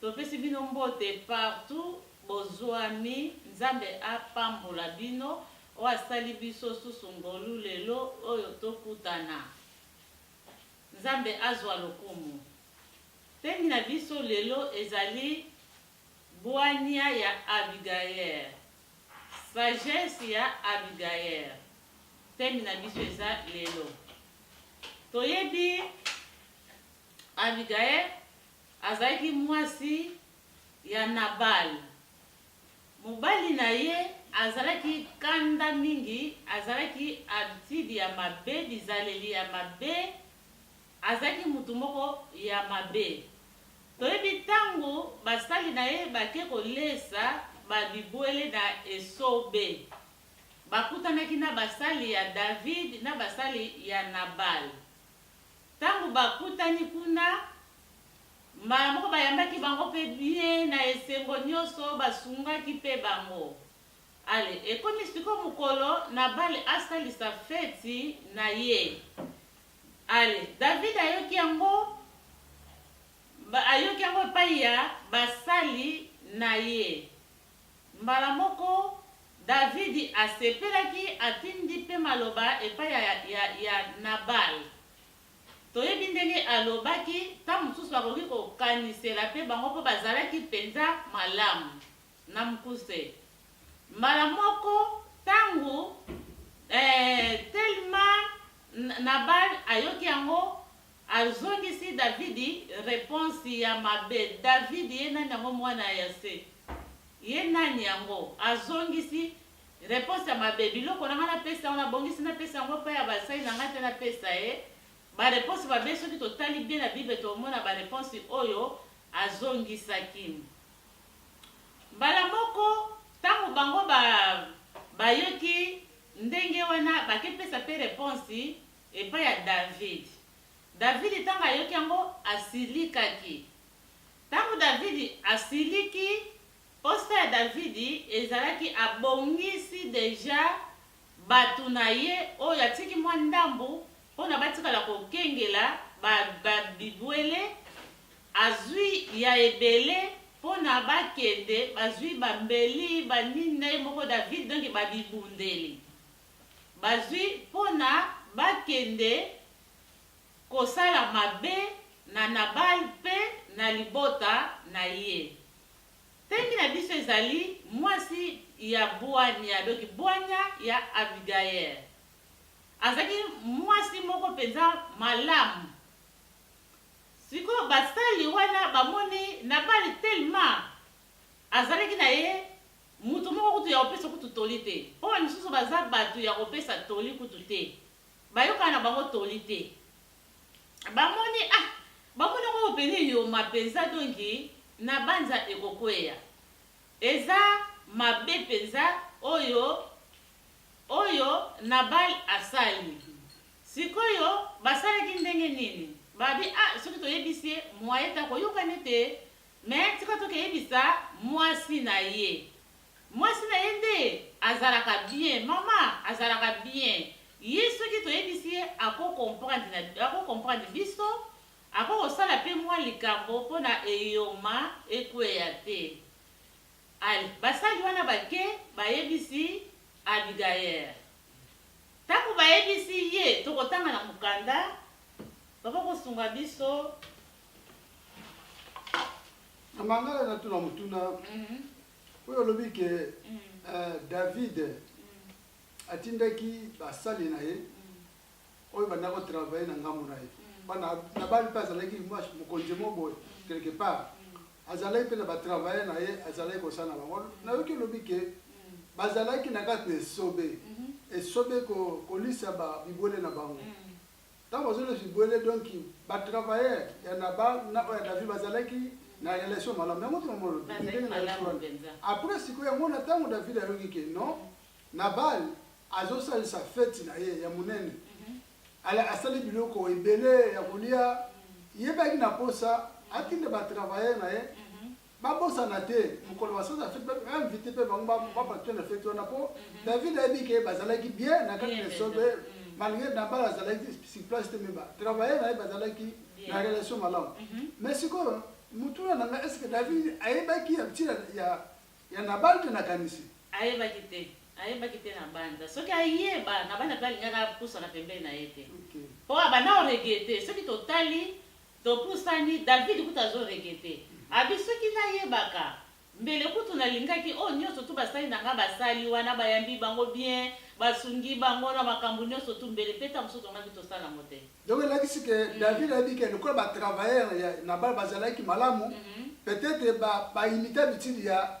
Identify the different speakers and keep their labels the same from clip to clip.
Speaker 1: Topesi bino mbote partout bozuami nzambe apambola bino oyo asali biso susu ngolu lelo oyo tokutana nzambe azua lokumu theme na biso lelo ezali buania ya abigayer sagesse ya abigayer theme na biso eza lelo toyebi abigayer Azalaki mwasi ya Nabal. Mobali na ye azalaki kanda mingi, azalaki habitude ya mabe, bizaleli ya mabe, azalaki mutu moko ya mabe. Toyebi tango basali na ye bake kolesa ba bibwele na esobe, bakutanaki na basali ya David na basali ya Nabal. Tango bakutani kuna, mbala moko bayambaki bango pe bien na esengo nioso, basungaki pe bango. Allez, ekomi sikoyo mokolo Nabale asalisa feti na ye. Allez, David ayoki yango, ayoki yango epayi ya basali na ye. Mbala moko, Davidi asepelaki, atindi mpe maloba epai ya, ya, ya Nabale. Toyebi ndenge alobaki, ntango mosusu bakoki kokanisela mpe bango mpo bazalaki mpenza malamu, na mokuse. Mbala moko, ntango, ee, telema, Nabale ayoki yango, Azongisi Davidi reponse ya mabe. Davidi ye nani yango mwana ya Yase? Ye nani yango? Azongisi reponse ya mabe. Biloko na ngai napesa yango, nabongisi napesa yango epai ya basali na ngai te napesa ye? Ba reponse mabe soki totali bien na Bible tokomona ba reponse oyo azongisaki. Mbala moko tango bango ba bayoki ndenge wana bake pesa pe reponse. Epai ya Davidi. Davidi ntango ayoki yango, asilikaki. Ntango Davidi asiliki, mposa ya Davidi ezalaki abongisi deja bato na ye oyo atiki mwa ndambo mpo na batikala kokengela ba, ba bibwele, azui ya ebele mpo na bakende, bazui ba mbeli, ba nini na ye moko Davidi, donc ba bibundeli. bazwi mpo na bakende kosala mabe na Nabale mpe na libota na ye. Teme na biso ezali mwasi ya bwanya, donc bwanya ya Abigail. Azalaki mwasi moko mpenza malamu. Sikoyo basali wana bamoni Nabale tellement azalaki na ye Moto moko kutu ya kopesa kutu toli te, mpo bamisusu baza bato ya kopesa toli kutu te. Bayokana na bango toli te. Bamoni, ah, bamoni yango oyo pene eyoma penza, donki na banza ekokweya. Eza mabe penza oyo, oyo Nabal asali. Sikoyo, basalaki ndenge nini? Babi, ah, soki toyebisi ye, moyen te akoyoka nete Mais tika to keyebisa mwasi na ye. Mwasi na ye nde azalaka bien. Maman azalaka bien. Ye soki toyebisi ye ako comprendre na ako comprendre biso. Ako kosala pe mwa likambo pona eyoma ekweya te. Allez basali wana bake bayebisi Abigaer. Tango bayebisi ye tokotanga na mokanda. Papa kosunga biso.
Speaker 2: Mama nga na tuna mutuna mhm. oyo olobi ke mhm. eh, David mhm. atindaki basali na ye oyo banda ko travailler na ngambo na ye bana Nabali mpe azalaki mokonzi mo boye quelque part azalaki mpe na batravailler na ye azalaki kosala na bango nayoki olobi ke bazalaki na kati na esobe esobe kolisa bibwele na bango Tango azui le vibuele donc ba travailleurs ya nabal na oyo ya David bazalaki na relation malamu yango te maman olobi Bazalaki ndenge nayoki malamu wana penza. après sikoyo yango na tango David ayoki ke non nabal azosalisa feti na ye ya monene ala asali biloko ebele ya kolia ye pe ayaki na posa atinda ba travailleurs na ye Ba bosana te mokolo ba sala fete ba invite pe bango ba ba participer na fete wana po David ayebi ke ba zalaki bien na kati na esobe malgre Nabal azalaki sur place te mais ba travailler na ye ba zalaki na relation malamu mais sikoyo motuna na nga est ce que David ayebaki ya ntina ya ya Nabal te na kanisi Ayebaki te. Ayebaki te na
Speaker 1: banza. Soki ayeba, Nabal pe alingaki apusana pembeni na ye te. Ok. Po abanda ko regretter. Soki totali Topusani, David kutu azo reguette abi soki nayebaka mbele kutu nalingaki oyo nionso tout basali na nga basali wana bayambi bango bien basungi bango na makambu nionso tout mbele pe tango mosusu tolingaki tosala yango te. Donc elakisi que
Speaker 2: David ayebi que lokola ba travailleurs ya Nabal bazalaki malamu peut etre ba imita bitidi ya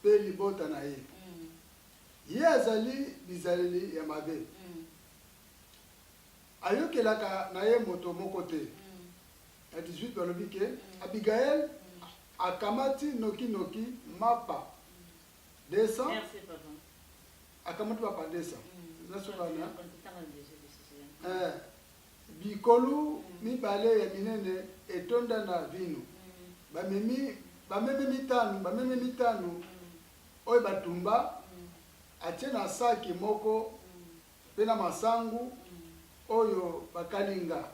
Speaker 2: mpe libota na ye. Ye azali bizaleli ya mabe. Ayokelaka na ye moto moko te. Na 18 balobi ke Abigail akamati noki noki mapa 200 Merci, papa. akamati mapa 200 nasoka na Eh, Bikolu mibale ya minene etonda na vinu, bamemi bameme mitano, bameme mitano oyo batumba, atie na saki moko mpe na masangu oyo bakalinga,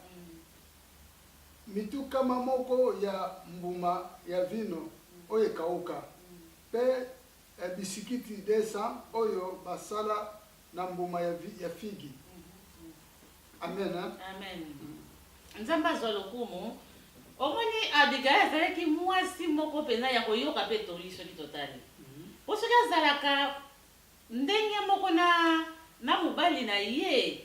Speaker 2: mitu kama moko ya mbuma ya vino oyo ekauka, mpe bisikiti 200 oyo basala Na mbuma ya, vi, ya figi. Amen, hein? Amen.
Speaker 1: Nzambe azwa lokumu. Omoni, Abigaye azalaki mwasi moko mpenza ya koyoka mpe toli soki totali. Mpo soki azalaka ndenge moko na, na mobali na ye,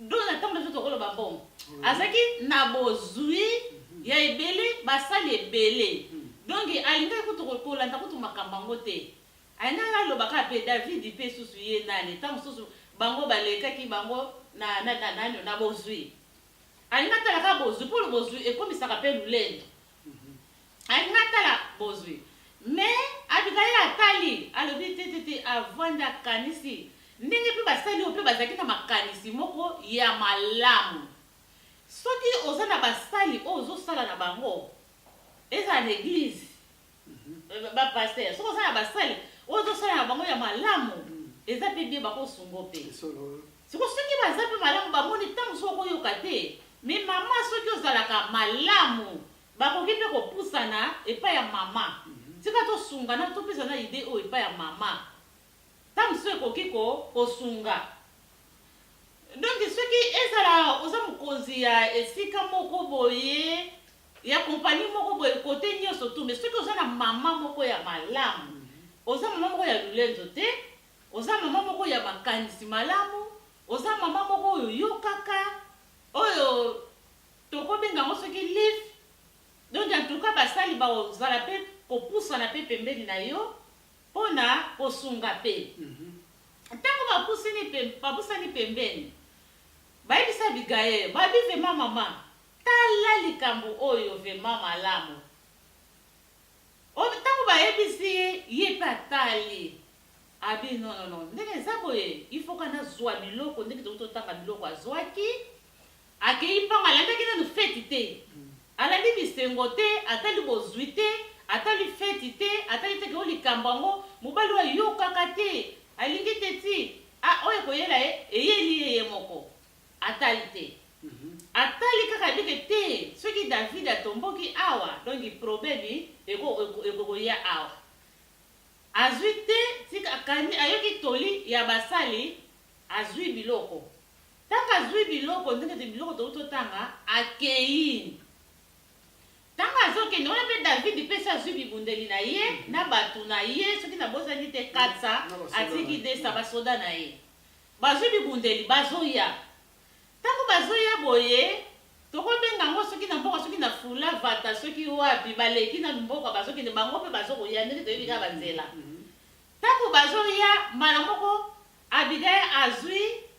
Speaker 1: Dona ntango nde tokoloba mbongo azalaki na bozwi ya ebele basali ebele hmm. donc alingaki kutu kolanda kutu makambo yango te alingaki aloba kaka mpe david mpe susu ye nani ntango mosusu bango balekaki bango na, na, na, na, na, na bozwi alingi atalaka bozwi mpo bozwi ekomisaka mpe lolendo Alingi atala bozwi mais Abigail atali alobi te te te avandi akanisi ndenge pe basali oyo pe bazalaki na makanisi moko ya malamu. Soki oza na basali oyo ozosala na bango ezala na eglise ba pasteur soki oza na basali oyo ozosala na bango ya malamu eza pe bien bakosungo pe siko soki baza pe malamu bamoni ntango soki okoyoka te mais mama soki ozalaka malamu Bakoki mpe kopusana epai ya mama. Tika tosungana topesana idee oyo epai ya mama. Ntango mosusu ekoki ko, kosunga. Donc, soki ezala oza mokonzi ya esika moko boye, ya compagnie moko boye, cote nyonso tout, mais soki oza na mama moko ya malamu, oza mama moko ya lulenzo te, oza mama moko ya makanisi malamu, oza mama moko oyo oyokaka, oyo. Toko benga yango soki live. Donc en tout cas basali bao zala pe ko pusana pe pembeni na yo pona ko sunga pe. Tango ba pusini pe ba pusani pembeni ba yebisi Abigail ba bi vraiment mama tala likambo oyo vraiment malamu oyo tango ba yebisi ye ye pe atali abi non non non ndenge eza boye il faut ka na zua biloko ndenge tokuti otanga biloko azuaki Akeyi mpango alandaki nanu feti te alandi bisengo te atali bozwi te atali feti te atali te ke o likambo yango mobali oyo ayokaka te alingi te ti a oyo ekoyela ye eyeli ye ye moko atali te atali kaka ayebi ke te soki David atomboki awa donki probleme eko ekokoya awa azwi te tika akani ayoki toli ya basali azwi biloko Ntango azwi biloko, nde kete biloko tokoki totanga, akei. Ntango azokende wana mpe Davidi mpe esi azwi bibundeli na ye na bato na ye, soki nabosani te 400, atiki 200 basoda na ye. Bazwi bibundeli, bazoya. Ntango bazoya boye, tokobenga yango soki na mboka, soki na Fula, Vata, soki wapi, baleki nanu mboka, bazokende, bango mpe bazokoya, ndenge toyebi kaka banzela. Ntango bazoya, mbala moko Abigail azwi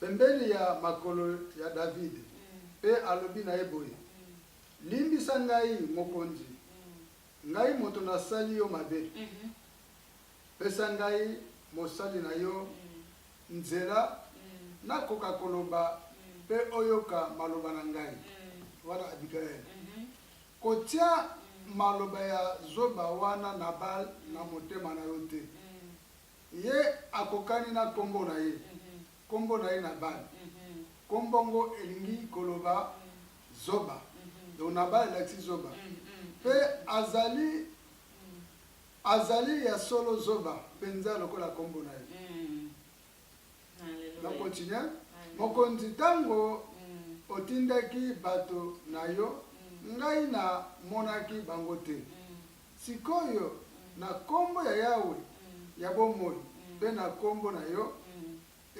Speaker 2: pembeni ya makolo ya David, pe alobi na ye boye, Limbisa ngai, mokonzi, ngai moto nasali yo mabe, pesa ngai mosali na yo nzela nakoka koloba pe oyoka maloba na ngai. Wana Abigail kotia maloba ya zoba wana Nabal na motema na yo te. Ye akokani na kombo na ye. Kombo na ye Nabal. Kombo yango elingi koloba zoba. Donc Nabal elakisi zoba. Pe azali, azali ya solo zoba penza lokola kombo na ye. Na continuer. Mokonzi, tango otindaki bato na yo, ngai na monaki bango te. Sik'oyo, na Kombo ya Yawe ya bomoi mpe na Kombo na yo,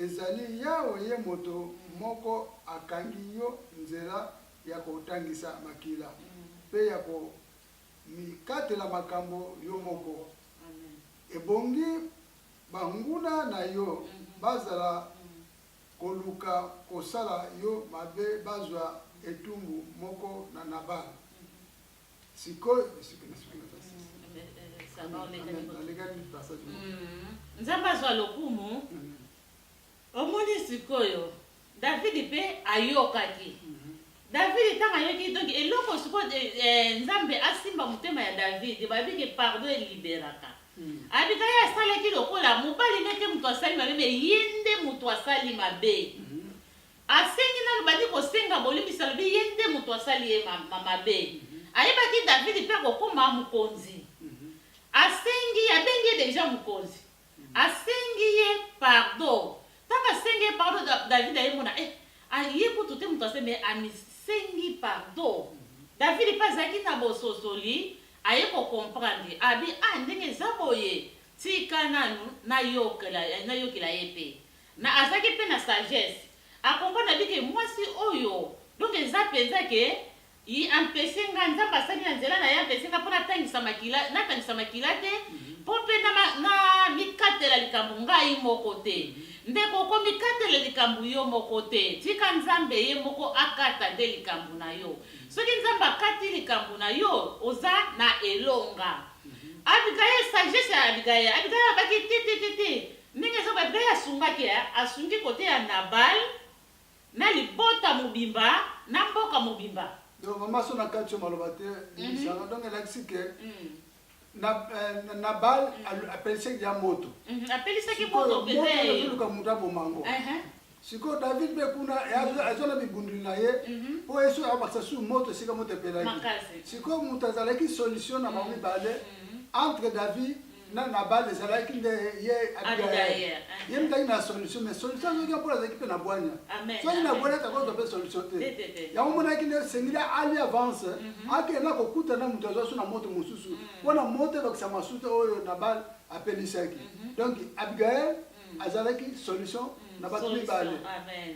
Speaker 2: ezali Yawe ye moto moko akangi yo nzela ya kotangisa makila mpe ya komikatela makambo yo moko. Ebongi banguna na yo bazala koluka kosala yo mabe bazwa etumbu moko na Nabal. Sikoyo esuki
Speaker 1: na suki na kasi. Alekani passage. Nzambe azwa lokumu. Omoni sikoyo Davidi mpe ayokaki. Davidi ntango ayoki donc eloko sikoyo eh, eh, Nzambe asimba motema ya Davidi, bayebi ke pardon eliberaka. Hmm. Abika ye asalaki lokola mobali nde te moto asali mabe, me ye nde moto asali mabe. Hmm. Asengi nanu bandi kosenga bolimbisi alobi ye nde moto asali ye mabe. Ayebaki Davidi mpe akokoma mokonzi. Asengi ye, abengi ye deja mokonzi. Asengi ye pardo. Tango asengi ye pardo Davidi aye mona eh aye kutu te moto asali mais amisengi pardo. Davidi mpe azalaki na bososoli aye ko comprendre abi ah ndenge eza boye tika nanu nayokela nayokela ye mpe. Na azalaki pe na sagesse a comprendre ke mwasi oyo donc eza penza ke il empeche nga nzambe asali na nzela naye empeche nga po na tangisa makila na kangisa makila te po pe na na mikatela likambo ngai moko te ndeko okomi katela likambo yo moko te tika nzambe ye moko akata nde likambo na yo soki nzambe akati likambo na yo oza na elonga Abigaye sagesse ya Abigaye Abigaye abaki ti ti ti ti Ndenge Jobe mpe asungaki, asungi kote ya Nabal na libota mobimba na mboka mobimba. Donc maman so na
Speaker 2: kati yo maloba te bimisanga mhm. donc elakisi ke mhm. na euh, na bal mhm. apelisaki ya moto apelisaki moto
Speaker 1: mpe luka moto aboma ngo
Speaker 2: sikoyo david mpe kuna azwa na bibundeli na ye mhm. mpo ye soki abakisa su moto esika moto epelaki sikoyo moto azalaki solution na bango mhm. mibale mhm. entre david na nabal ezalaki nde ye abigail ye mizalaki na solution mais solution azwaki mpo azalaki mpe na bwanya soki na bwanya takozwa mpe solution te yango monaki nde esengeli ali avance akende na kokuta na moto azwa so na moto mosusu mpo na moto ebakisa masuta oyo nabal apelisaki donc abigail azalaki solution na bato mibale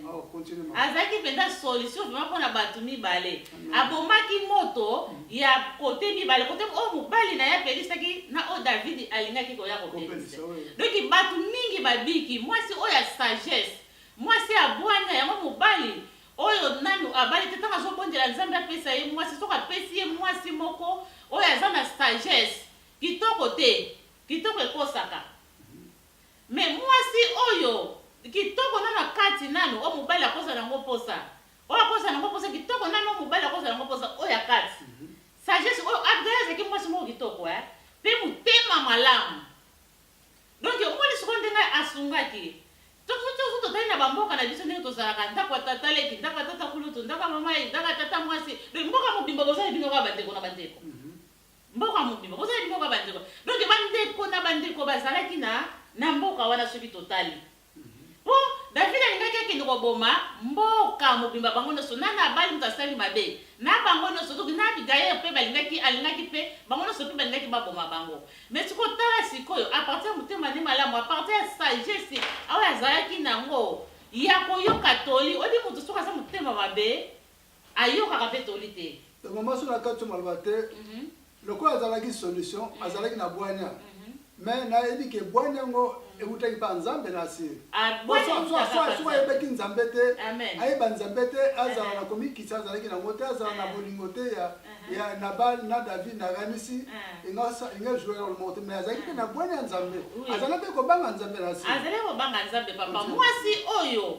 Speaker 1: oh, azalaki
Speaker 2: mpenza
Speaker 1: solution vraimen mpo na bato mibale abomaki moto ya kote mibale kote oyo oh, mobali na ye apelisaki na oyo oh, davidi alingaki koya kopelisa donki bato mingi babiki mwasi oyo ya sagesse mwasi ya bwanya yango mobali oyo nanu abali te ntango azobondela nzambe apesa ye mwasi soki apesi ye mwasi moko oyo aza na sagesse kitoko te kitoko ekosaka Mais muasi oyo kitoko nanu akati nanu oyo mobali akozala nango posa oyo akozala nango posa kitoko nanu oyo mobali akozala nango posa oyo akati sagesse oyo Abigail azalaki muasi moko kitoko eh pe motema malamu donc omoni sikoyo ndenge asungaki tosusu totali na bamboka na biso ndenge tozalaka ndako ya tata leki ndako ya tata kulutu ndako ya mama ye ndako ya tata mwasi donc mboka mobimba bozali bino kaka bandeko na bandeko Mboka mobimba bozalaki mboka bandeko donc bandeko na bandeko bazalaki na na mboka wana soki totali mpo David alingaki akende koboma mboka mobimba bango nyonso na Nabali moto asali mabe na bango nyonso soki na Abigail mpe balingaki alingaki mpe bango nyonso mpe balingaki baboma bango mais sikoyo tala sikoyo apartir ya motema nde malamu apartir ya sagesse oyo azalaki nango ya koyoka toli oyebi moto soki aza motema mabe Ayokaka pe toli te. Donc maman soki nakati yo
Speaker 2: maloba te lokola azalaki solution azalaki na bwanya mais nayebi ke bwanya yango ewutaki pa nzambe nasi soki ayebaki nzambe te ayeba nzambe te azala na komikisa azalaki nango te azala na bolingo te ya ya nabal na david nakanisi inga joue role moko te mais azalaki mpe na bwanya ya nzambe azalaki mpe kobanga nzambe nasi azalaki kobanga nzambe
Speaker 1: papa mwasi oyo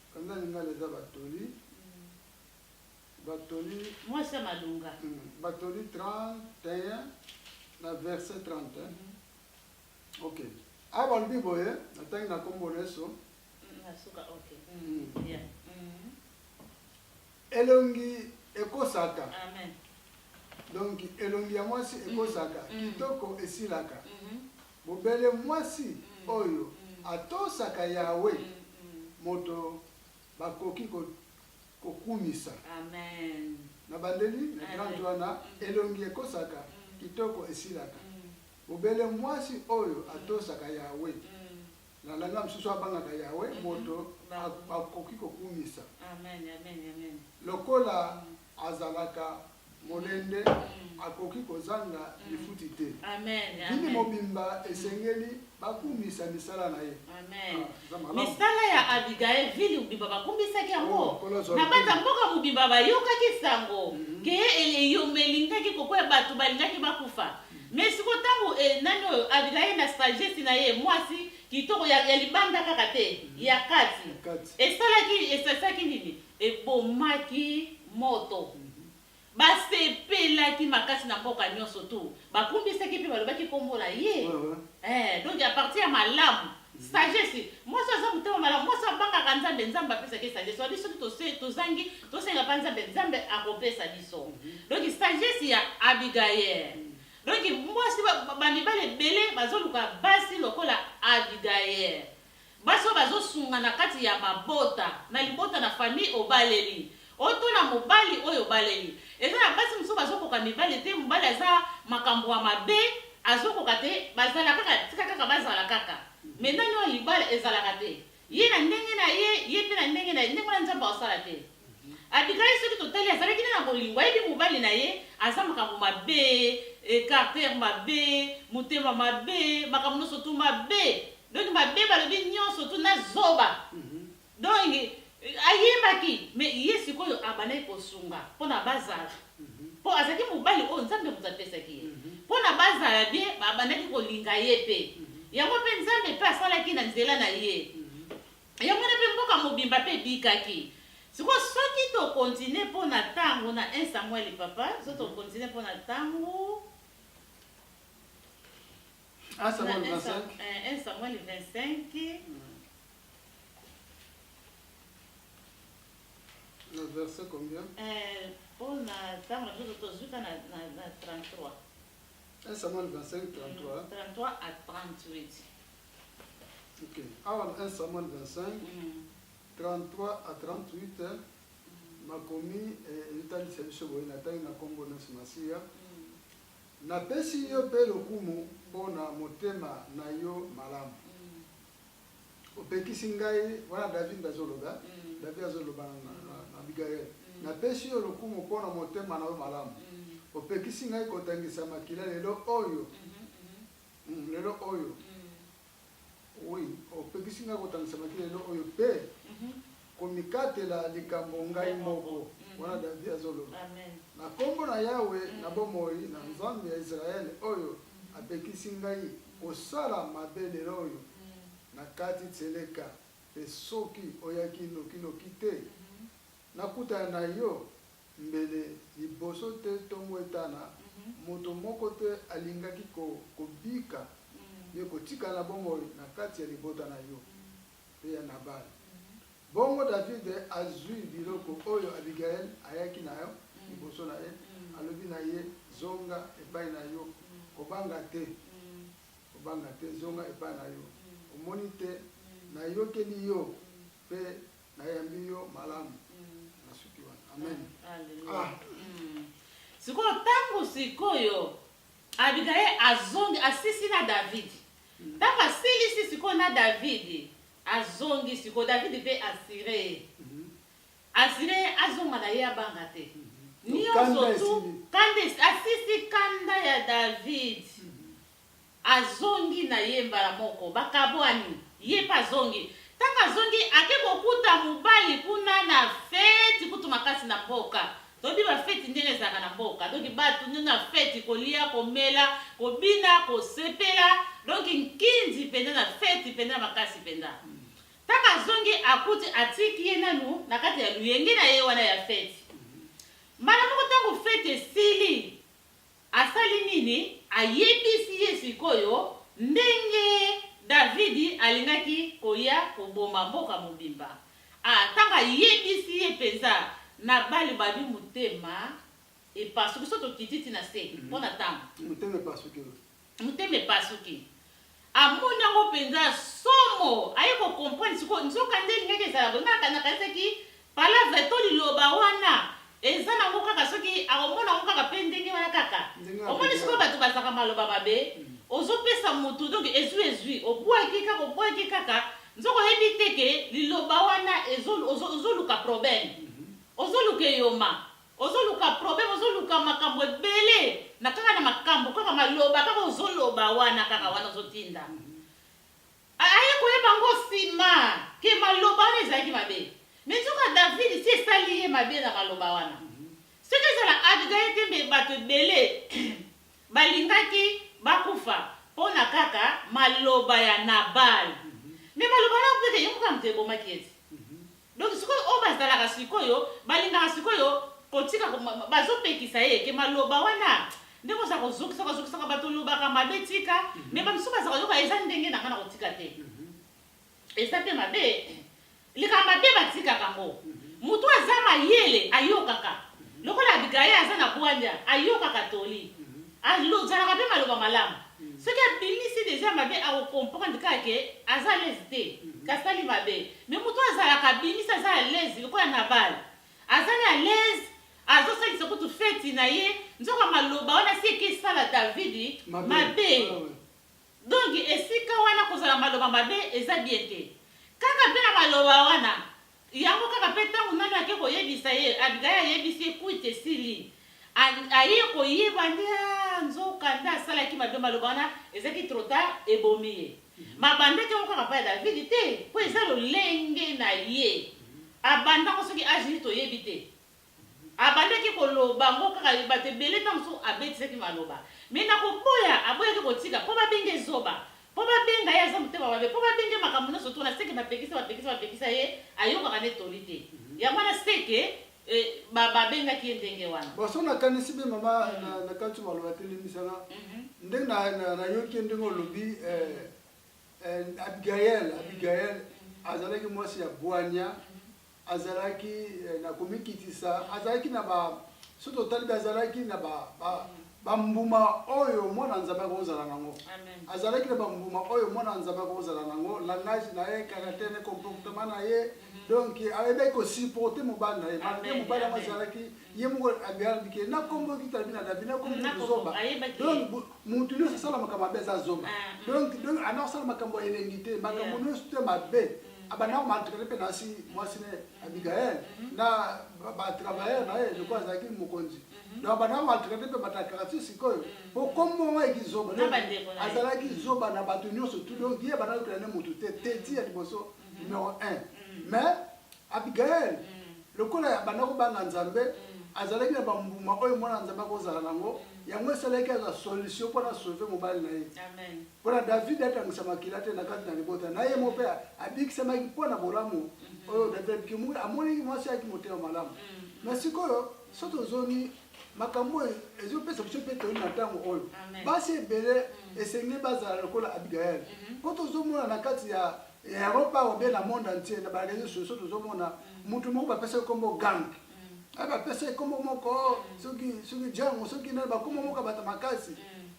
Speaker 2: Kanda lingala eza batoli batoli mwasi ya malonga
Speaker 1: mm, batoli 31
Speaker 2: na verset 31 mm -hmm. ok awa balobi boye natangi na nkombo na yesu elongi ekosaka
Speaker 1: donc
Speaker 2: elongi ya mwasi ekosaka kitoko esilaka Bobele mwasi oyo atosaka Yawe moto bakoki kokumisa.
Speaker 1: Nabandeli
Speaker 2: na 30 wana, Elongi ekosaka, kitoko esilaka. Bobele mwasi oyo atosaka Yawe, na langa mosusu abangaka Yawe, moto bakoki kokumisa.
Speaker 1: Lokola
Speaker 2: Azalaka molende, akoki kozanga lifuti te. Bini
Speaker 1: mobimba
Speaker 2: esengeli bakumisa misala na ye. Ah,
Speaker 1: misala ya Abigail, vile mobimba bakumisaki yango. Oh, na banda mboka mobimba bayokaki sango mhm. ke eyombe elingaki kokwea, bato balingaki bakufa. Mais siko ntango eh, nani oyo Abigail na sagesse na ye mwasi kitoko ya, ya libanda kaka te ya kati esalaki esasaki nini ebomaki moto. Basepelaki makasi na mboka nyonso tout. Bakumbisaki mpe balobaki nkombo na ye. Ee, donc a partir ya malamu. Sagesse. Mwasi oyo aza motema malamu. Mwasi oyo abangaka Nzambe, Nzambe apesaka ye sagesse. Olobi soki tose, tozangi, tosenga mpa Nzambe, Nzambe akopesa biso. Donc sagesse ya Abigaele. Donc mwasi, ba, ba mibali ebele bazoluka basi lokola Abigaele. Basi oyo bazo sunga na kati ya mabota, na libota na famille obaleli o to na mobali oyo obaleli. Eza na basi mosusu bazo koka mibali te, mobali aza makambo ya mabe, azo koka te, bazala kaka, tika kaka bazala kaka. Mais nani oyo libala ezalaka te. Ye na ndenge na ye, ye pe na ndenge na ye, ndenge wana Nzambe ako sala te. Abigail soki totali azalaki nde na bolingo ayebi mobali na ye aza makambo mabe eh, carter mabe motema mabe makambo nyonso tu mabe donc mabe balobi nyonso tu na zoba mhm. donc eh, ayebaki me ye sikoyo abandaki kosunga mpo na bazala mpo mhm. azalaki mobali oyo nzambe moto apesaki ye mpo mhm. na bazala bie babandaki kolinga ye mpe yango mpe nzambe mpe asalaki na nzela na ye Yango wana mpe mboka mobimba mpe ebikaki. Sikoyo soki to continuer mpo na tango na un Samuel papa, soki to continuer mpo na tango. Un Samuel 25. Eh, un
Speaker 2: Samuel 25. Na verset
Speaker 1: combien?
Speaker 2: Eh, mpo
Speaker 1: na tango na biso tozwi ka na
Speaker 2: 33. Un Samuel 25, 33. 33 à
Speaker 1: 38.
Speaker 2: Ok, awa na 1 Samuel 25, 33 à 38, makomi eh, etalisa biso boye, natangi na nkombo na Yesu Masiya, napesi yo mpe lokumu mpo na motema na yo malamu opekisi ngai wana david nde azoloba mm. david azoloba na mm. abigail mm. napesi yo lokumu mpo na motema na yo malamu opekisi ngai kotangisa makila lelo oyo mm-hmm, mm-hmm. Hum lelo oyo hum. Oui opekisi ngai kotangisa maki lelo oyo mpe mm -hmm. komikatela likambo ngai moko mm. wana David azoloba na nkombo na Yawe mm. na bomoi na mm. Nzambe ya Israele oyo mm. apekisi ngai kosala mabe lelo oyo mm. na kati tseleka mpe soki oyaki nokinoki te mm -hmm. nakutana na yo Mbele liboso tè tongo etana, moto moko te alingaki kobika pe kotikala na bomoi na kati ya libota na yo pe ya Nabal. Bongo David azwi biloko oyo Abigail ayaki na yango liboso na ye, alobi na ye, Zonga epai na yo, kobanga te, kobanga te, zonga epai na yo. Omoni tè nayokeli yo. Pe nayambi yo malamu. Nasuki wana. Amen. Alleluia. Ah. Mm.
Speaker 1: Sikoyo ntango sikoyo Abigaye azongi asisi na Davidi. Ntango asilisi sikoyo na Davidi azongi sikoyo Davidi mpe asire ye. Mhm. Asire ye azonga na ye abanga te. Nyonso Kanda tu esili. kanda esi- asisi kanda ya Davidi. Azongi na ye mbala moko. Bakabuani. Ye pe azongi. Tango azongi, ake kokuta mobali kuna na feti kutu makasi na mboka. Toyebi ba feti ndenge ezalaka na mboka. Donc batu nde na feti, kolia, komela, kobina, kosepela. Donc nkindi penza na feti penza makasi penza. Tango azongi, akuti atiki ye nanu na kati ya loyenge na ye wana ya feti. Mbala moko tango feti esili, Asali nini? Ayebisi ye sikoyo ndenge Davidi alingaki koya koboma mboka mobimba. A Ntango ayebisi ye mpenza, Nabali balobi motema epasuki. Soki tokiti tii na se mpo na ntango. Motema epasuki. Motema epasuki. Amoni yango penza somo aye ko comprendre sikoyo nzoka nde elingaki ezala boye nga nakanisaki palavre to liloba wana eza nango kaka soki akomona yango kaka pe ndenge wana kaka omoni sikoyo batu bazaka maloba mabe ozo pesa mutu donc ezui ezui obuaki kaka obuaki kaka nzoka oyebi te ke liloba wana ezo ozo ozoluka problème ozoluka eyoma Ozo luka problème ozo luka makambo ebele na kaka na makambo kaka maloba kaka ozo loba wana kaka wana ozo tinda aye koyeba ngo sima ke maloba wana ezalaki mabe me nzoka David si esali ye mabe na maloba wana soki ezala Abigail te mbe bato ebele balingaki bakufa mpo na kaka maloba ya Nabal me maloba wana mpe te yongo kaka moto ebomaki ete Donc sikoyo oyo bazalaka sikoyo balingaka sikoyo kotika bazopekisa ye ke maloba wana ndenge oza kozokisaka ozokisaka bato olobaka mabe tika mhm. me bamisusu baza koyoka eza ndenge na ngai na kotika te mhm. eza mpe mabe likambo mabe batikaka yango mhm. motu aza mayele ayokaka lokola abigaye aza na bwanya ayokaka toli Azalaka pe maloba malamu. Soki abimisi dejà mabe ako comprendre kaka que aza à l'aise te kasi asali mabe. Mais mutu oyo azalaka abimisi aza à l'aise lokola Nabal. Azali à l'aise azo salisa kutu feti na ye nzoka maloba wana esi eke sala David mabe. Donc esika wana kozala maloba mabe eza bien te. Kaka pe na maloba wana Yango kaka pe tango nani ake koyebisa ye Abigaye ayebisi ye kwiti esili a aye koyeba nde aah nzoka nde asalaki mabe maloba wana ezaki trop tard ebomi ye mabandaki yango kaka pa ya David te po eza lolenge na ye abandako soki age nini toyebi te Abandaki koloba ngo kaka bato ebele tango mosusu abetisaki maloba mais na koboya aboyaki kotika po babenga ye zoba po babenga ye aza motema mabe po babenga ye makambo nionso tuna seke bapekisa bapekisa bapekisa ye ayokaka nde toli te yango wana seke ba babengaki ye ndenge wana. Bon soki nakanisi bien
Speaker 2: mama na kanisi maloba atelemisa nga ndenge na nayoki ye ndenge olobi Abigael Abigael azalaki mwasi ya bwanya azalaki eh, na komikitisa azalaki na ba soki totali azalaki na ba, ba bambuma oyo mwana nzambe akozala nango azalaki na bambuma oyo mwana nzambe akozala nango langage na ye caractère na comportement na ye mhm. donc ayebaki kosupporte mobali na ye malgre mobali yango azalaki ye moko abiyalabike na kombo kitalabi na david na kombo zoba donc motu nyonso asala makambo mabe aza zoba ah, mhm. donc donc ana kosala makambo ya elengi te makambo nyonso te mabe abanda komantrene mpe nasi mwasi ne abigael mhm. na batravailleur na ye lokola azalaki mokonzi mhm. donc abanda komantrene mpe batakarati sikoyo mhm. mpo kombo ngo ekizoba azalaki zoba na bato nyonso tu donc ye abanda kokela ne motu te teti ya liboso numero 1 mais abigael lokola abanda kobanga nzambe azalaki na bambuma oyo mwana nzambe akozala nango yango esalaki azwa solution mpo na sauve mobali na ye Mpo na Davidi, atangisa makila te na kati na libota na ye, moko mpe abikisamaki mpo na bolamu mhm. oyo Davidi amonaki mwasi yaki motema malamu. Mhm. Na sikoyo so tozongi makambo oyo ezopesa biso mpe toli na ntango oyo basi ebele mhm. esengeli bazala lokola abigael mpo tozomona na kati ya europa obe na monde entier na bareseau sociaux tozomona motu moko bapesaki nkombo gank ah, bapesa ye kombo moko soki soki jango soki nani bakombo moko bata makasi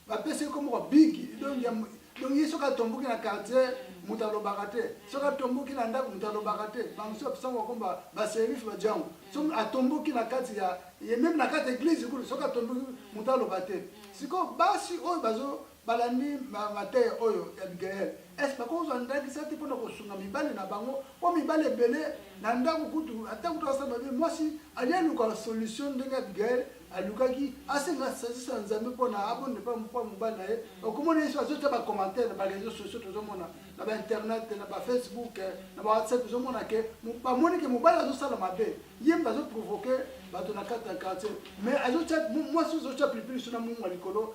Speaker 2: bapesa ye kombo kwa bigi donc ye soki atomboki na quartier moto alobaka te soki atomboki na ndako moto alobaka te bamosusu bapesaka bakomba baserife bajango so atomboki na kati ya ye meme na kati ya eglise kutu soki atomboki moto aloba te sikoyo basi oyo bazo Balandi mateya oyo ya Abigail, est-ce que bakoki kozwa ndakisa te mpo na kosunga mibali na bango? Mpo mibali ebele na ndako, kutu ata kutu basala mabe, mwasi alingi aluka solution ndenge Abigail alukaki, asenga sagesse ya Nzambe mpo na abonde mpo ya mobali na ye. Okomona yesu azotya ba commentaire na ba réseaux sociaux, tozomona na ba internet, na ba Facebook, na ba WhatsApp, tozomona ke bamoni ke mobali azosala mabe, ye moto azoprovoke bato na kati ya quartier, mais azotya mwasi, ozotya pilipili so na mungu ya likolo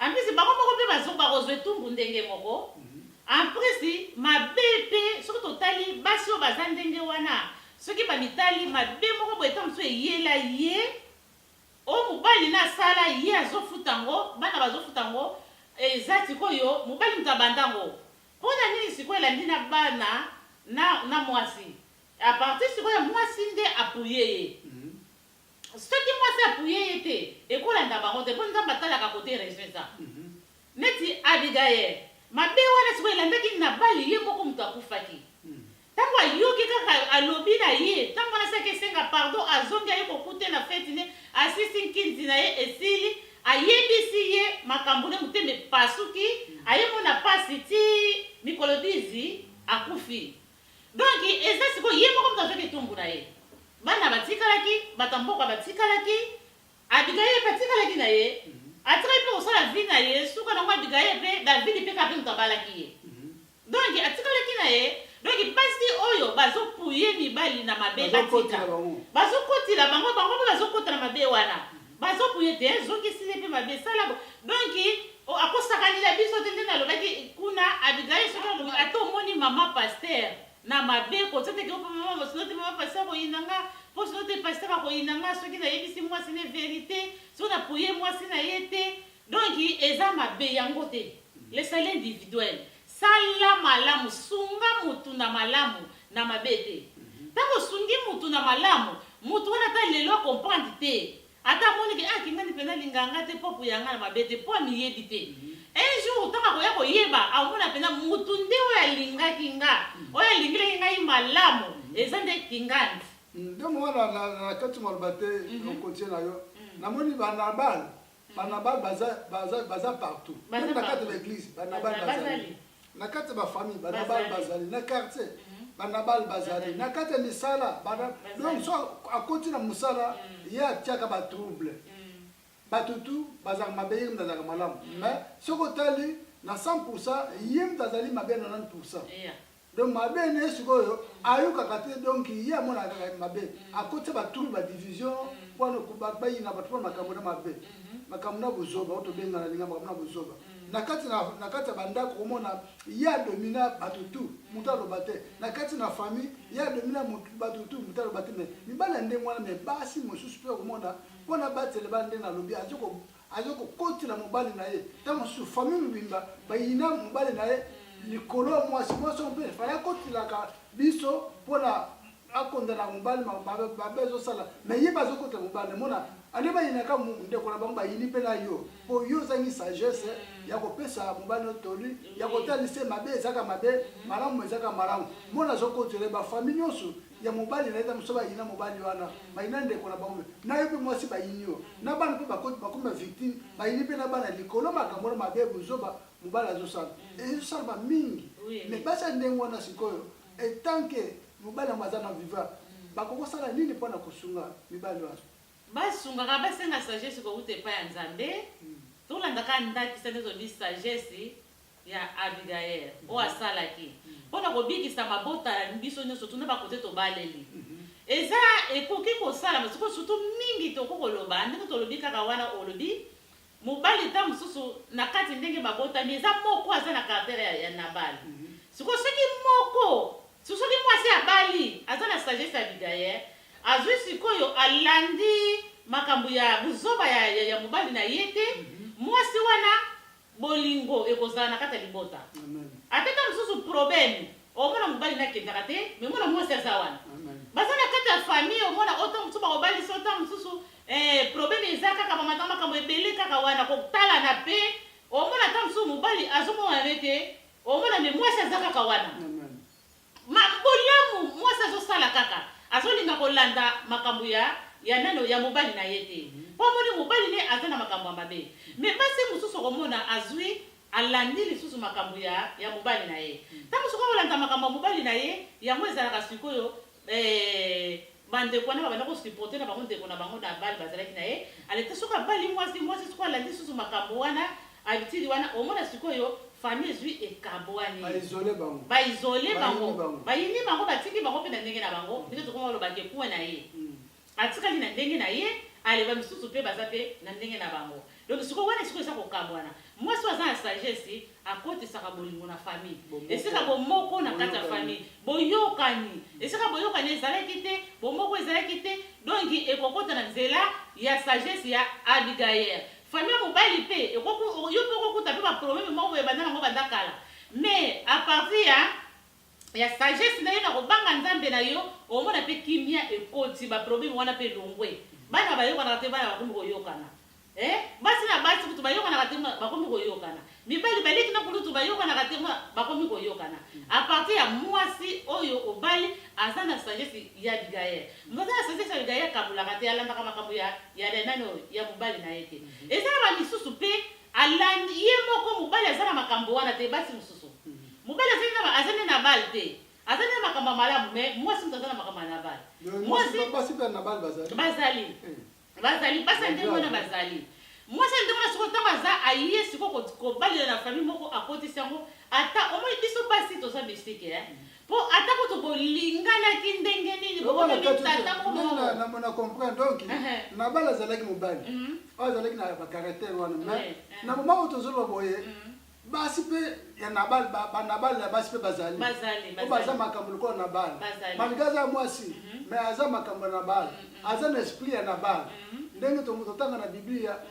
Speaker 1: En plus bango moko pe bazongi bakozwa etumbu ndenge moko. En plus mabe pe soki totali basi oyo baza ndenge wana soki bamitali mabe moko boye tango mosusu eyela ye oyo mobali na asala ye azofuta yango bana bazofuta yango eza sikoyo mobali moto abanda yango pona nini sikoyo elandi na bana na, na mwasi apartir sikoyo mwasi nde apuye ye Soki mwasi apuye ye te ekolanda bango te po nzambe atalaka kote raison eza neti abigael mabe wana sikoyo elandaki nabali ye moko mutu akufaki tango ayoki kaka alobi na ye tango wana saki esenga pardon azongi aye kokute na feti ne asisi nkinzi na ye esili ayebisi ye makambo ne motema epasuki aye mona pasi ti mikolo 10 akufi Donc eza sikoyo ye moko moto azwaki etumbu na ye, bana batikalaki, bato ya mboka batikalaki, Abigaye mpe atikalaki na ye, atikaki mpe kosala vie na ye, suka na yango Abigaye mpe Davidi mpe kaka mpe moto abalaki ye. Donc atikalaki na ye, donc basi oyo bazo pouiller mibali na mabe batika, bazo kotela bango, bango mpe bazo kota na mabe wana. Bazo kuye te hein zoki esili pe mabe sala bo donc oh ako sakanela biso te nde na lobaki kuna abigail soki alobi ata omoni maman pasteur na mabe ko tia te ke ope maman sinon te maman pasteur ako yina nga po sinon te pasteur ako yina nga soki na yebisi mwasi ne verite soki na poye mwasi na ye te Donc eza mabe yango te le salut individuel sala malamu sunga mutu na malamu na mabe te tango osungi mutu na malamu mutu wana ata lelo a comprendre te ata amoni ke ah kingani pena alinga nga te po apuya nga na mabe te po amiyebi te un jour tango akoya koyeba akomona pena mutu nde oyo alingaki nga oyo alingelaki ngai malamu eza nde kingandi. Nde mwana
Speaker 2: na kati maloba te okotie na yo na moni ba na bal Banabal baza, baza, baza partout. Baza Meme na kati ya partout. baeglise, banabal Baza- bazali. bazali. Na kati ya bafamille, banabal Bazali. bazali. Na quartier, Mhm. banabal bazali. Bazali. Na kati ya misala, bana... Bazali. donc so akoti na mosala, ye atiaka batrouble. Mm. Bato tu bazalaka mabe, ye moto azalaka malamu. Mais soki otali na 100%, ye moto azali mabe na 90%. Yeah. Donc mabe ne sikoyo ayokaka te donc ye amonaka kaka mabe akotisa ba trouble ba division mpo na kuba bayina bato mpo na makambo na mabe makambo na buzoba oyo tobenga na linga makambo na buzoba na kati na na kati ya bandako komona ye adomina bato tu moto aloba te na kati na famille ye adomina bato tu moto aloba te me mibali ya ndenge wana me basi mosusu mpe komona mpo na batele bana nde nalobi azo Azo ko kotela mobali na ye ta mosusu famille mobimba ba yina mobali na ye likolo ya mwasi mwasi mpe faya kotelaka biso pona akonda na mobali mabe azo sala mais ye bazo kotela mobali mona ale ba yina ka ndeko na bango ba yini mpe na yo po yo ozangi sagesse ya ko pesa mobali no toli ya kotalise mabe ezaka mabe malamu ezaka malamu mona azo kotela ba famille nyoso ya mobali na ye na mosusu bayina mobali wana bayina ndeko na bango na ye mpe mwasi bayini yo na bana mpe bakoti bakomi bavictime bayini mpe na bana likolo makambo na mabe buzoba mobali azosala ezosalama mingi me basi ya ndenge wana sikoyo etanke mobali yango aza na viva bakoki kosala nini mpo na kosunga mibali wana basungaka
Speaker 1: basenga sagesse kowuta epai ya nzambe hmm. tolandaka ndakisa nde ezolobi sagesse ya Abigail oyo asalaki mpo na kobikisa mabota ya biso nyonso tuna ba kote tobaleli eza ekoki kosalama siko sutu mingi toko koloba ndenge tolobi kaka wana olobi mobali ta mosusu na kati ndenge babotami eza moko aza na caractère ya, ya Nabal siko soki moko soki mwasi abali aza na sagesse ya Abigail azwi sikoyo alandi makambo ya buzoba ya, ya, ya mobali na ye te mwasi wana Bolingo ekozala na kati ya libota. Ata tango mosusu probleme omona mobali na kendaka te mais mwana mwasi aza wana baza na kati ya famille omona oto mosusu bakobalisa ota mosusu eh, probleme eza kaka bamata makambo ebele kaka wana kotalana pe omona ata mosusu mobali azomonana te omona me mwasi aza kaka wana Ma bolamu mwasi azosala kaka azolinga kolanda makambo ya ya nano ya mobali na ye te po amoni mobali ne aza na makambo ya mabe mais basi mosusu okomona azui alandi lisusu makambo ya ya mobali na ye tango soki akolanda makambo ya mobali na ye yango ezalaka sikoyo eh, Ba ndeko wana babanda ko supporter na bango ndeko na bango Nabal bazalaki na ye aleta soki abali mwasi mwasi sikoyo alandi susu makambo wana habitude wana omona sikoyo famille ezui ekabwani Ba isoler bango. ba isole Bayini bango bango. bayini bango batiki bango mpe na ndenge na bango ndenge tokoma koloba ke coin na ye Mm. atikali na ndenge na ye ale ba misusu mpe baza mpe na ndenge na bango Donc sikoyo wana esiko eza kokabwana. Mwasi oyo aza na sagesse akotisaka bolingo na famille. Bomoko. Esika bomoko na kati ya Boyokani. famille. Boyokani. Esika boyokani ezalaki te, bomoko ezalaki te, donc ekokota na nzela ya sagesse ya Abigail. Famille ya mobali pe ekoku yo pe okokuta pe ba problème moko boye ebanda nango banda kala. Mais à partir ya ya sagesse nayo na kobanga nzambe na yo omona pe kimia ekoti ba problème wana pe elongwe bana bayokanaka te bana bakomi koyokana eh? basi na basi kutu bayokanaka te bakomi koyokana mibali baleki na kulutu bayokanaka te bakomi koyokana apartir ya mwasi oyo obali aza na sagesse ya abigaye moza na sagesse ya abigaye akabolaka te alandaka makambo ya ya nani oyo ya mobali na ye te mhm. ezala ba misusu mpe Alandi ye moko mobali aza na makambo wana te basi mususu mobali aza na ba- aza nde na bale te aza nde na makambo ya malamu me mwasi moto aza na makambo ya na bale Mais mwasi mwasi- basi mpe ya nabali bazali bazali Eh. bazali basi ya ndenge wana bazali mwasi ya ndenge wana sikoyo ntango aza aye sikoyo ko- kobalela na famille moko akotisi yango ata omoni biso basi toza misike eh? Po ata kutu bolinganaki ndenge nini bokomaki
Speaker 2: tata moko moko. Na comprendre donc Nabal azalaki mobali. Mhm. Oyo azalaki na ba caractère wana mais na moment oyo tozoloba boye mhm. basi mpe ya nabal banabal ya basi mpe bazali o baza makambo lokola nabal malgre aza mwasi mhm. mais aza makambo ya nabal aza na esprit ya nabal ndenge totanga na biblia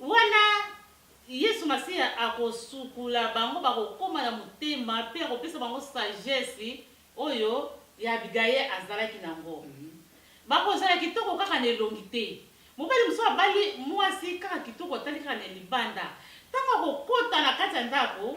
Speaker 1: Wana Yesu Masiya akosukula bango, bakokoma na motema mpe akopesa bango sagesse oyo ya Abigaye azalaki na yango. Bakozala kitoko kaka na elongi te. Mobali mosusu abali mwasi kaka kitoko, atali kaka na libanda. Ntango akokota na kati ya ndako,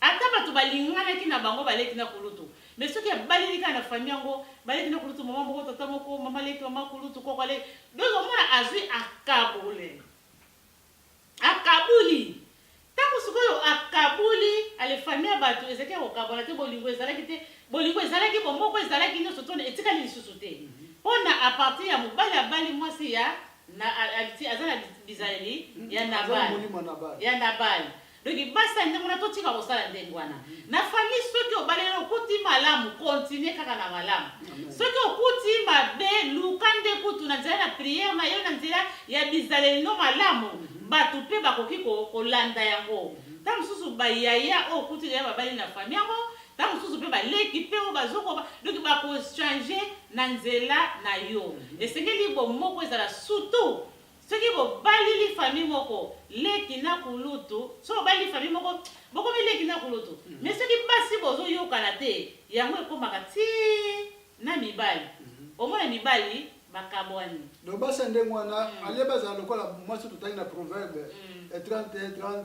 Speaker 1: Ata batu balinganaki na bango baleki na kulutu mais soki abaleli kaka na famille yango baleki na kulutu maman moko tata moko maman leki maman kulutu koko aleki donc omona azui akabule akabuli tango sikoyo akabuli ale famille ya batu ezalaki ya kokabwana te bolingo ezalaki te bolingo ezalaki bomoko ezalaki nyonso tona etikali lisusu te mpo na apartir ya mobali abali mwasi ya aza na bizaleli ya nabali ya nabali Donc basi ya ndenge wana totika kosala ndenge wana. Na famille soki obaleli okuti malamu continuer kaka na malamu. Soki okuti mabe luka nde kutu na nzela na prière na yo na nzela ya bizaleli no malamu bato mpe bakoki kolanda yango. Ntango mosusu ba yaya oyo okuti deja babali na famille yango ntango mosusu mpe baleki mpe oyo bazokoba donc bakochange na nzela na yo. Esengeli bomoko ezala surtout Soki bobalili famille moko leki na kulutu soki bobalili famille moko bokomi leki na kulutu mais soki basi bozo yokana te yango ekomaka ti na mibali omona mibali bakabwani. Donc basi ya ndenge
Speaker 2: wana, au lieu bazala lokola mwasi oyo totangi na proverbe ya 31, 30,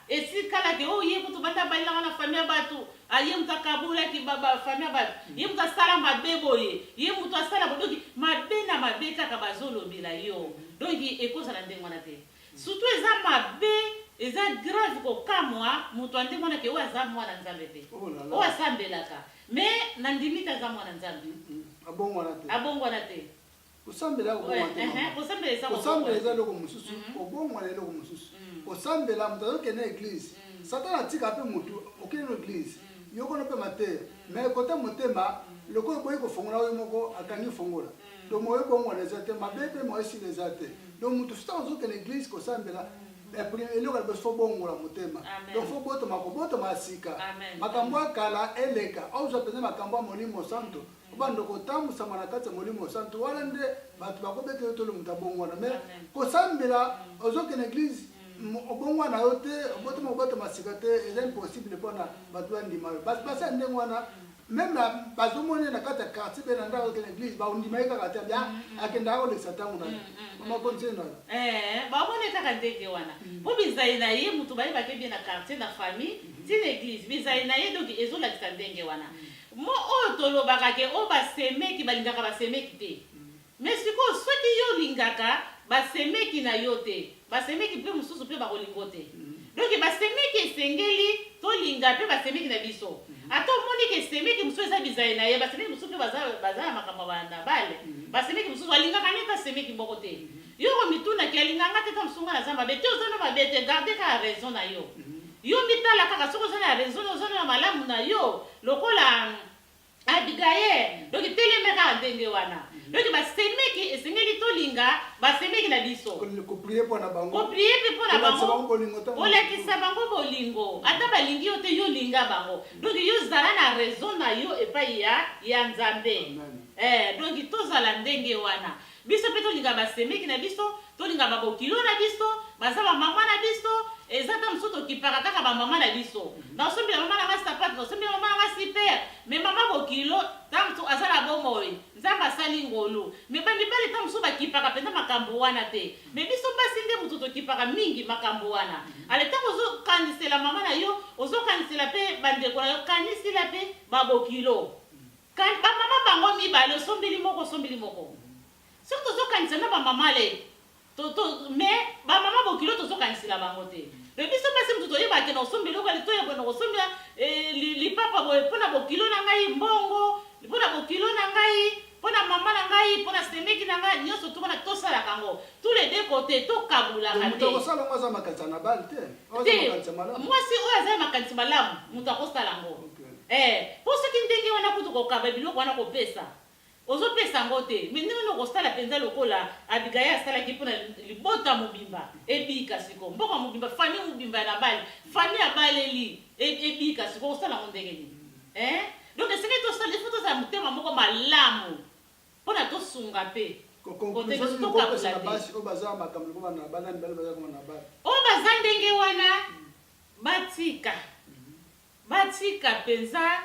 Speaker 1: Esi kala ke oh ye kutu banda balelaka na famille ya batu ah ye mutu akabolaki ba ba famille ya batu ye mutu asala mabe boye ye mutu asala boye donc mabe na mabe kaka bazolobela yo donc ekozala ndenge wana te surtout eza mabe eza grave kokamwa mutu ya ndenge wana ke oyo aza mwana nzambe te Oh là là. oyo asambelaka mais nandimi te aza mwana nzambe Mm, mm. Abongwana te. abongwana te kosambela ya kobonga
Speaker 2: te mama kosambela eza kosambela eza eloko mosusu kobonga na eloko mosusu kosambela moto azokende na eglise satana atika mpe motu okende na eglise yokono mpe mateya mais kote motema lokola oboyi kofongola oyo moko akangi fongola donc moyo ebongwana eza te mabe mpe moyo esila eza te donc moto soki ozokende eglise kosambela eloko liboso fo bongola motema donc fo botoma kobotoma ya sika makambo ya kala eleka ozwa mpenza makambo ya molimo santo obanda kotambusama na kati ya molimo santu wana nde bato bakobeta yo tolo moto abongwana mai kosambela mm. ozokende na eglize mm. obongwana yo te obotama obatama sika te eza impossible mpona bato bandima yo basi ya ndenge wana mm. meme bazomoni na kati ya quartier mpe na ndako okende eglise baondima ye kaka te bia akendaka kolekisa ntango na ye makonzi na yo eh, bamoni kaka
Speaker 1: ndenge wana mpo bizali na ye moto bayebaki bie na quartier na famille ti na eglise bizali na ye donk ezolakisa ndenge wana Mot oyo tolobaka ke oh ba semeki balingaka ba semeki te mais sikoyo soki yo olingaka ba semeki na yo te ba semeki pe mususu pe bako lingo te donc ba semeki esengeli tolinga pe ba semeki na biso ata omoni ke semeki mususu eza bizayi na ye ba semeki mususu pe baza baza na makambo ya ba na bale ba semeki mususu alingaka ne ta semeki moko te Yo omitunaki alinga nga te tangu sunga naza mabe te oza na mabe te garde kaka raison na yo yo mitala kaka soki oza na raison na oza na malamu na yo lokola Abigail donc teleme kaka ndenge wana donc basemeki esengeli tolinga basemeki na biso koprie mpo na bango
Speaker 2: koprie mpe mpo na bango
Speaker 1: olakisa bango bolingo ata balingi yo te yo linga bango donc yo zala na raison na yo epai ya ya nzambe eh, donc tozala ndenge wana Biso pe tolinga ba semeki na biso, tolinga ba bokilo na biso, baza ba maman na biso, eza temps mosusu tokipaka kaka ba maman na biso. Naosombela maman na nga sapato, naosombela maman na nga super, mais maman bokilo temps mosusu aza na bomoi, Nzambe asali ngolu. Mais ba mibali temps mosusu bakipaka penza makambu wana te, mais biso basi nde moto tokipaka mingi makambu wana. Ale tango ozo kanisela maman na yo, ozo kanisela pe ba ndeko na yo, kanisila pe ba bokilo. Can ba maman bango mibale osombeli moko osombeli moko soki tozokanisa na ba maman le to, to, mais ba maman bokilo tozokanisela bango te mais biso basi moto toyeba ke na osombeli eloko ali toyeba na kosombela eh, li- lipapa boye mpo na bokilo na ngai mbongo mpo na bokilo na ngai mpo na mama na ngai mpo na semeki na ngai nyonso tu wana tosalaka yango tous les deux côté To tokabulaka moto te akosala yango aza makanisa na bale te. Aza te makanisa malamu. mwasi oyo aza na makanisi malamu moto akosala yango Ee, mpo soki ndenge wana kutu kokaba biloko wana kopesa, ozopesa yango te, mais ndenge nini okosala mpenza lokola Abigaye asalaki mpo na libota mobimba ebika sikoyo, mboka mobimba, famille mobimba ya Nabale, famille abaleli e, ebika sikoyo, okosala yango ndenge nini? Ee, donc esengeli tosala, ifo tozala motema moko malamu mpo na tosunga mpe kotelesi tokabula te. Oyo baza makambo lokola na banani bale baza koma na bale. Oyo baza ndenge wana batika. Batika mpenza.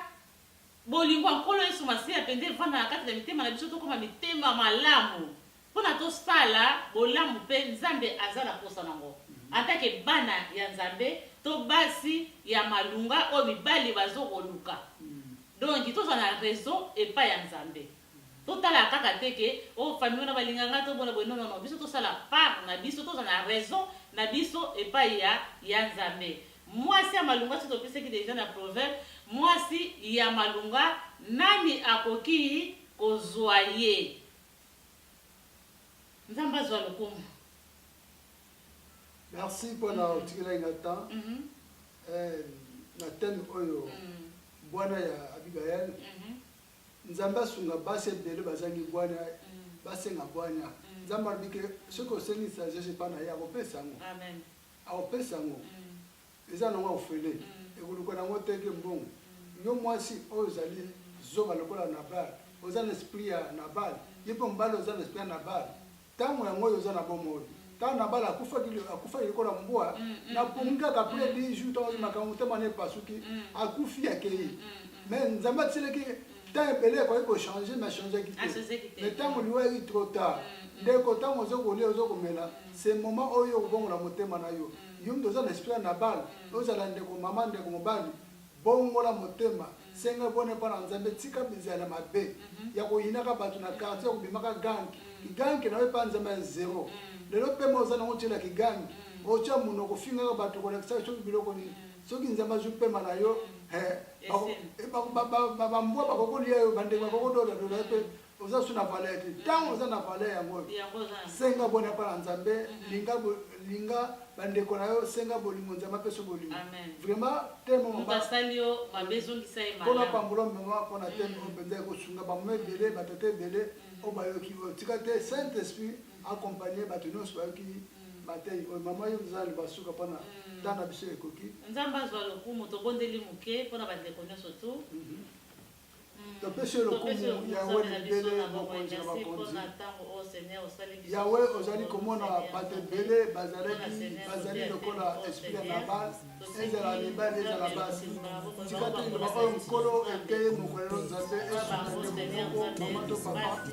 Speaker 1: Bolingo ya Nkolo Yesu Masiya mpenza evanda na kati na mitema na biso, tokoma mitema malamu mpo na tosala bolamu, mpe Nzambe aza na mposa nango. Antake bana ya Nzambe, to basi ya malunga oyo mibali bazo koluka, donki tozala na raison epai ya Nzambe. To tala kaka te ke oh famille wana ba linga nga to bola boye non non non biso to sala part na biso to za na raison na biso epayi ya ya nzambe muasi ya malunga soki to pesaki deja na proverbe muasi ya malunga nani akokii ko zua ye nzambe azua lokumu.
Speaker 2: Merci pona mm. otikelaki nga temps mm -hmm. eh, na thème oyo mm. bwana ya Abigaël mm -hmm. Nzambe asunga basi ebele bazangi bwanya basenga bwanya. Nzambe alobi ke soki osengi sagesse epai na ye akopesa yango, akopesa yango eza nango ofele ekoluka nango te ke mbongo. Yo mwasi oyo ozali zoba lokola Nabal, oza na esprit ya Nabal, yo mpe mobali oza na esprit ya Nabal, tango yango oyo oza na bomoi kaka na bala akufaki akufaki lokola mbwa mm, mm, na pongi mm, kaka après 10 jours tango ozi makambo motema na epasuki akufi akei mais nzambe atiselaki temps ebele ekoki kochange mais changeki te mais ntango liwa eki trop tard ndeko ntango ozo kolia ozo komela se moment oyo okobongola motema na yo yo mtu oza na esprit ya nabal ozala ndeko mama ndeko mobali Bongola motema, senga boni epai na Nzambe, tika bizali ya mabe, ya koyinaka bato na quartier, ya kobimaka gang, kigangi na yo epai ya Nzambe ya zero. Lelo pema oza na yango otiela kigangi, otia monoko ofingaka bato kolakisaka soki biloko nini, soki Nzambe azwi pema na yo, he, ba, ba, ba, ba, ba, ba mbwa bakoki kolia yo, bandeke bakoki kododa doda yo mpe oza su na valeur te ntango mm. oza na valeur yango oyo senga boni apa na nzambe mm-hmm. linga linga bandeko na yo senga bolingo nzambe apesa bolingo vraiment temomkona pambola mama mpona mm. teme oyo mpenza ekosunga bamama ebele mm. batata ebele mm. oyo bayoki oyo tika te saint esprit accompagne bato nyonso bayoki matei oyo mama yo eza libasuka mpona ntango na biso ekoki nzambe azwa lokumu
Speaker 1: tobondeli moke mpona bandeko nyonso tu mhm.
Speaker 2: topesi yo lokumu yawe na ebele mokonzi na bakonzi yawe ozali komona bato ebele bazalaki bazali lokola esprit ya nabal ezala mibali ezala basi tika toyeba oyo nkolo ete mokolelo nzambe esunga ndeko moko mama to papa